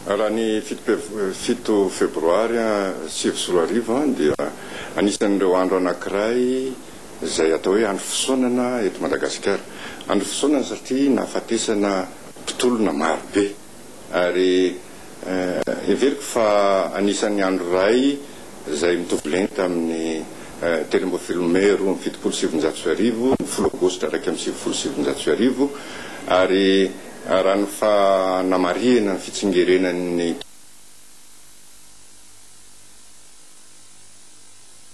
Raha ny fito febroary sivy sy roa arivo dia anisan'ireo andro anankiray izay atao hoe andro fisaonana eto Madagasikara. Andro fisaonana satria nahafatesana mpitolona maro be ary heveriko fa anisan'ny andro iray izay mitovy lenta amin'ny telo ambin'ny folo mey roa amby fitopolo sy sivinjato sy arivo, ny folo aogositra iraika amby sivifolo sy sivinjato sy arivo ary. Raha ny fanamarihana ny fitsingerenan'ny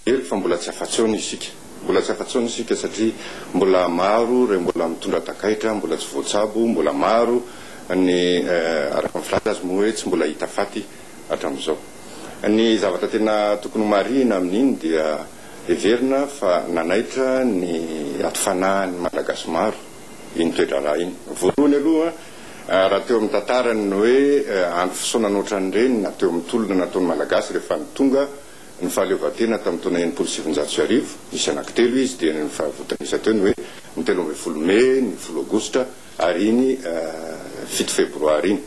Hery fa mbola tsy afa-tsaony isika. Mbola tsy afa-tsaony isika satria mbola maro ireo mbola mitondra takaitra mbola tsy voatsabo, mbola maro ny araka ny filaza azy moa hoe tsy mbola hita faty hatramin'izao. Ny zavatra tena tokony homarihina amin'iny dia heverina fa nanaitra ny aty fanahin'ny Malagasy maro. iny toe-draharaha iny. Voalohany aloha, raha teo amin'ny tantarany ny hoe andro fisaonana ohatran'ireny na teo amin'ny tolona nataon'ny Malagasy rehefa nitonga ny fahaleovantena tamin'ny taona enimpolo sy sivinjato sy arivo, nisy anankitelo izy dia ny fahavontanisa teo ny hoe ny telo ambin'ny folo mey, ny folo aogositra ary iny fito febroary iny.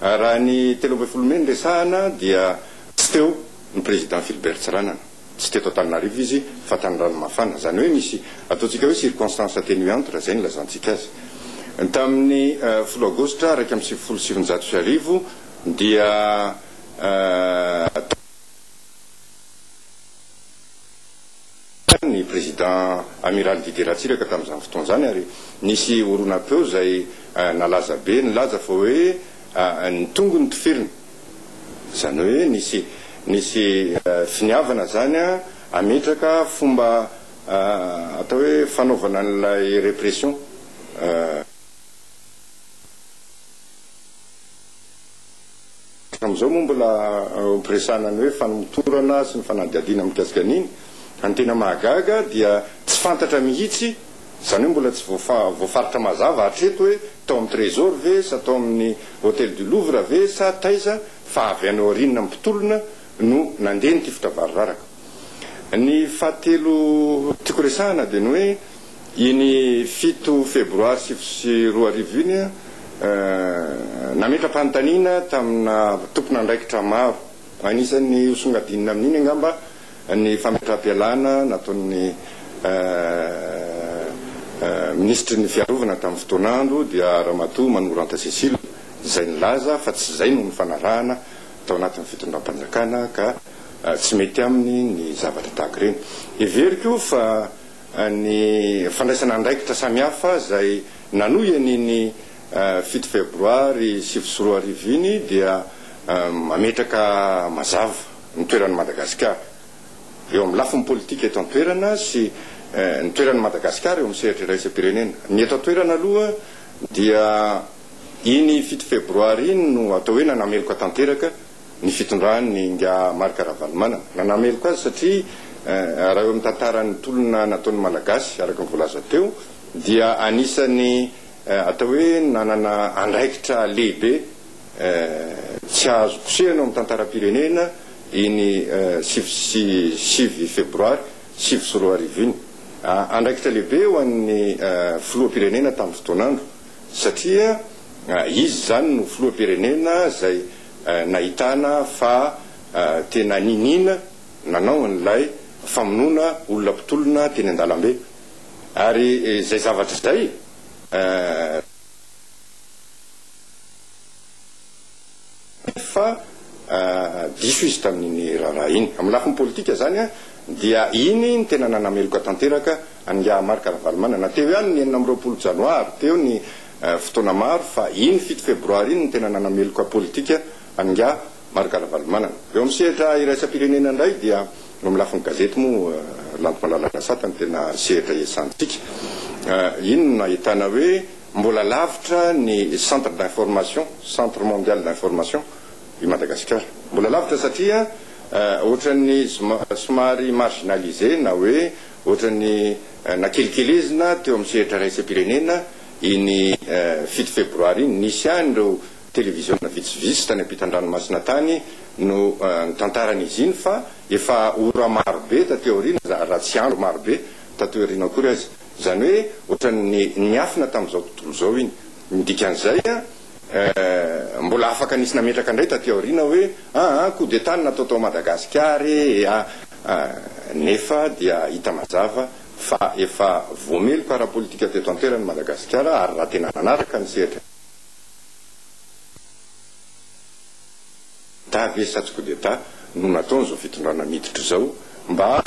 Raha ny telo ambin'ny folo mey no resahana dia tsy teo ny Président Philbert Tsiranana. Tsy teto Antananarivo izy fa tany Ranomafana. Izany hoe nisy ataontsika hoe circonstances atténuantes raha izay no ilazantsika azy. Tamin'ny folo Aogositra iraika amby sivifolo sy sivinjato sy arivo dia tany ny Président Amiral Didier Ratsiraka tamin'izany fotoana izany ary nisy horonam-peo izay nalaza be nilaza fa hoe ny tongony toferina. Izany hoe nisy nisy finiavana izany hametraka fomba atao hoe fanaovana an'ilay répression. Hatramin'izao moa mbola ampiresahana ny hoe famotorana sy ny fanadihadiana mikasika an'iny. Fa ny tena mahagaga dia tsy fantatra mihitsy Izany hoe mbola tsy voafaritra mazava hatreto hoe tao amin'ny Trésor ve sa tao amin'ny Hôtel du Louvre ve sa taiza fa avy any aoriana mpitolona no nandeha ny tifitra variraraka. Ny fahatelo tiako resahana dia ny hoe iny fito febroary sivy sy roa arivo iny nametra-panontaniana tamina tompon'andraikitra maro, anisan'ny hosongadinina amin'iny angamba Ny fametraham-pialana nataon'ny Minisitry ny Fiarovana tamin'ny fotoan'andro dia Ramatoa Manoranta Cécile izay nilaza fa tsy izay no nifanarahana tao anatin'ny fitondram-panjakana ka tsy mety aminy ny zavatra tahaka ireny. Heveriko fa ny fandraisana andraikitra samihafa izay nanohy an'iny fito febroary sivy sy roa arivo iny dia mametraka mazava. ny toeran'i Madagasikara eo amin'ny lafiny politika eto an-toerana sy ny toeran'i Madagasikara eo amin'ny sehatra iraisam-pirenena. Ny eto an-toerana aloha dia iny fito febroary iny no atao hoe nanameloka tanteraka ny fitondran'ny Ingahy Marc Ravalomanana. Nanameloka azy satria raha eo amin'ny tantaran'ny tolona nataon'ny Malagasy, araka ny voalaza teo, dia anisan'ny atao hoe nanana andraikitra lehibe. Tsy azo kosehina ao amin'ny tantaram-pirenena iny sivy sy sivy febroary sivy sy roa arivo iny. Andraikitra lehibe ho an'ny filoham-pirenena tamin'ny fotoan'andro satria izy izany no filoham-pirenena izay nahitana fa tena niniana nanao an'ilay famonoana olona mpitolona teny an-dalambe ary izay zavatra izay fa diso izy tamin'iny raharaha iny. Amin'ny lafiny politika izany dia iny no tena nanameloka tanteraka an'ingahy Marc Ravalomanana. Teo ihany ny enina amby roapolo janoary, teo ny fotoana maro fa iny fito febroary iny no tena nanameloka politika an'ingahy Marc Ravalomanana. Eo amin'ny sehatra iraisam-pirenena indray dia eo amin'ny lafiny gazety moa Lanto Malala Rasata no tena sehatra iasàntsika. Iny no nahitana hoe. Mbola lavitra ny centre d'information, centre mondial d'information, i Madagasikara. Mbola lavitra satria ohatran'ny somary marginalisé na hoe ohatran'ny nakelikelezina teo amin'ny sehatra iraisam-pirenena iny fito febroary iny. Nisy ihany ireo televiziona vitsivitsy tany ampitan-dranomasina tany no nitantara an'izy iny fa efa ora marobe taty aoriana, raha tsy andro marobe taty aoriana akory aza, Izany hoe ohatran'ny niafina tamin'izao tontolo izao iny. Ny dikan'izay, mbola afaka nisy nametraka indray taty aoriana hoe aa coup d'Etat no natao tao Madagasikara e ea, nefa dia hita mazava fa efa voameloka ara-politika teto an-toerana i Madagasikara ary raha tena nanaraka ny sehatra, D'Etat ve sa tsy coup d'Etat no nataon'izao fitondrana miditra izao mba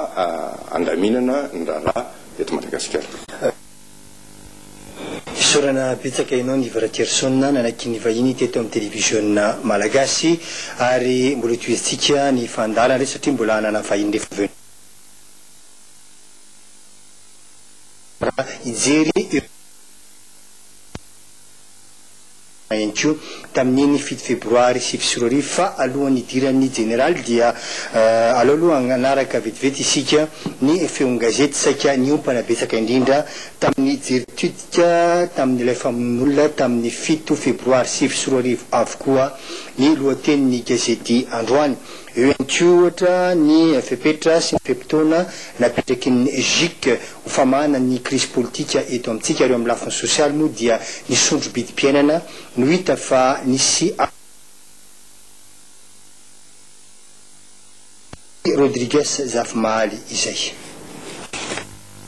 handaminana ny raharaha eto Madagasikara? Isaorana betsaka enao Niva Ratrierson nanakin ny vahiny teto am televiziona malagasy ary mbola hotohizantsika ny fandaharana re satria mbola hanana vahiny rehefa avy eo hijery ireo. ihany koa tamin'iny fito febroary sivy sy roa arivo fa alohan'ny hidiran'ny jeneraly dia alao aloha hanaraka vetivety isika ny feon-gazety saika niompana betsaka indrindra tamin'ny jeritodika tamin'ilay famonoan'olona tamin'ny fito febroary sivy sy roa arivo avokoa ny lohatenin'ny gazety androany. Eo ihany koa ohatra ny fepetra sy ny fe-potoana napetrakin'ny GIC. Ho famahana ny krizy politika eto amintsika ary eo amin'ny lafiny sosialy moa dia ny sondro-bidim-piainana no hita fa nisy an'i Rodrigues Zafimahaly izay.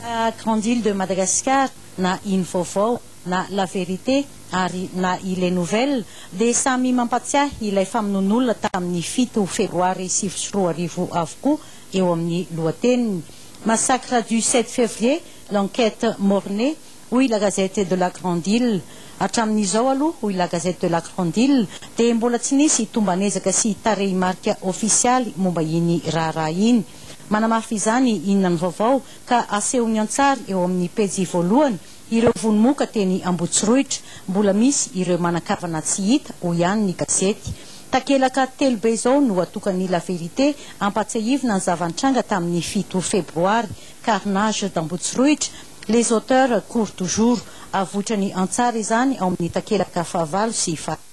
Na Grande Ile de Madagascar, na Ino Vaovao, na La Vérité ary na Ile Nouvelle dia samy mampatsiahy ilay famonoan'olona tamin'ny fito febroary sivy sy roa arivo avokoa eo amin'ny lohateniny. Massacre du sept février, l'enquête mornée, hoy La Gazette de la Grande Ile. Hatramin'izao aloha, hoy La Gazette de la Grande Ile, dia mbola tsy nisy tomban'ezaka sy tarehimarika ofisialy momba iny raharaha iny. Manamafy izany Inona no vaovao? ka asehony an-tsary eo amin'ny pejy voalohany Ireo vono moka teny Ambohitsirohitra, mbola misy ireo manan-kavana tsy hita, hoy ihany ny gazety. Takelaka telo be izao no atokan'ny La Vérité hampatsiahivina ny zava-nitranga tamin'ny fito febroary, Carnage d'Ambohitsirohitra, Les auteurs courent toujours. Avoitra ny an-tsary izany ao amin'ny takelaka fahavalo sy fahatelo.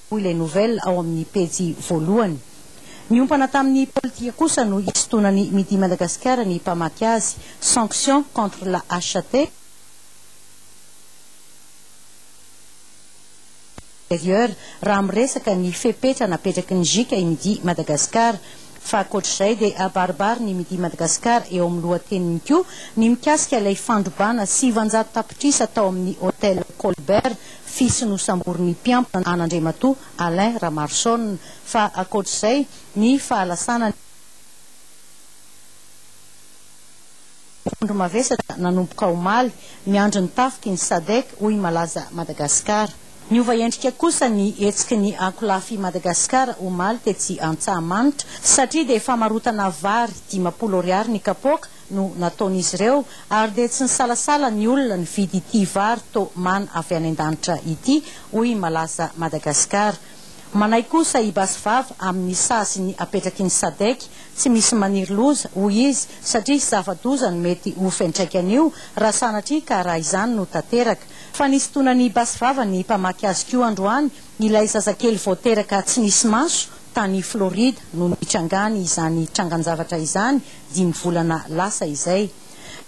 hoy ilay nouvelle ao amin'ny pejy voalohany. Niompana tamin'ny politika kosa no hisintonan'i Midi Madagascar ny mpamaky azy, Sanctions contre la HAT, Intérieur, raha miresaka ny fepetra napetraky ny JICA i Midi Madagascar. Fa ankoatr'izay dia abaribarin'i Midi Madagascar eo amin'ny lohateniny koa ny mikasika ilay fandrobana sivanjato tapitrisa tao amin'ny Hotel Colbert Fils nosamborin'ny mpiambina an'Andriamatoa Alain Ramaroson, fa ankoatr'izay ny fahalasana ny mpitondra mavesatra nanomboka omaly, miandry ny tafiky ny Sadec, hoy Malaza Madagascar. Niova endrika kosa ny hetsiky ny ankolafy Madagascar omaly tetsy Antsahamanitra, satria dia famarotana vary dimampolo ariary ny kapoaka no nataon'izy ireo ary dia tsy nisalasala ny olona nividy ity vary to man avy any an-danitra ity, hoy i Malaza Madagascar. Manaiky kosa i Basivava amin'ny sazy ny apetraky ny Sadec, tsy misy maniry loza, hoy izy, satria zava-doza no mety ho fiantraikan'io raha sanatria ka raha izany no tanteraka. Fa nisintonana an'i Basivava ny mpamaky azy koa androany ilay zazakely vao teraka tsy nisy maso tany Florida no nitrangany izany trangan-javatra izany, dimy volana lasa izay.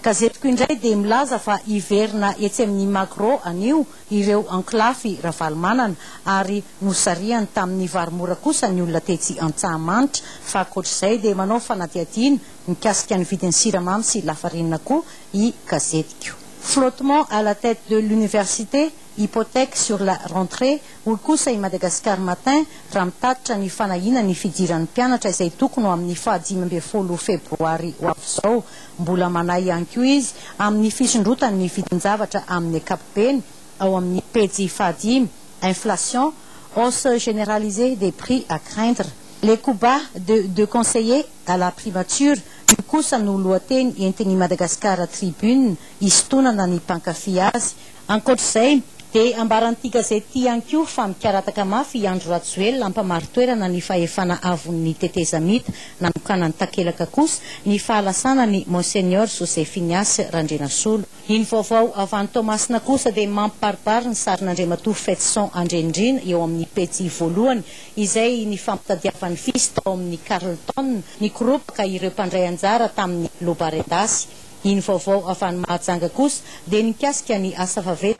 Gazetiko indray dia milaza fa hiverina etsy amin'ny Magro anio ireo ankolafy Ravalomanana ary nosarihany tamin'ny vary mora kosa ny olona tetsy Antsahamanitra fa ankoatr'izay dia manao fanadihadiana mikasika ny vidin'ny siramamy sy lafarinina koa i gazetiko. Flottement à la tête de l'université, Hypothèque sur la rentrée, hoy kosa i Madagascar Matin raha mitatitra ny fanahiana ny fidiran'ny mpianatra izay tokony ho amin'ny faha dimy ambin'ny folo febroary ho avy izao. Mbola manahy ihany koa izy amin'ny fisondrotan'ny vidin-javatra amin'ny ankapobeny ao amin'ny pejy faha dimy, Inflation, hausse généralisée des prix à craindre. Les coups bas de deux conseillers à la primature, io kosa no lohateny entin'i Madagascar Tribune hisintonana ny mpankafy azy Ankoatra izay, dia ambaran'ity gazety ity ihany koa fa mikarataka mafy i Andry Rajoelina hampamari-toerana ny fahefana avon'ny tetezamita, nanokanany takelaka kosa ny fahalasana an'i Monseigneur José Finias Randrianasolo. Ny vaovao avy any Toamasina kosa dia mampibaribary ny sarin'Andriamatoa Fetison Andrianirina eo amin'ny pejy voalohany, izay nifampitadiavan'ny fils tao amin'ny Carlton nikoropaka ireo mpandray anjara tamin'ny loba Rendasy. Ny vaovao avy any Mahajanga kosa dia nikasika ny asa vaventy.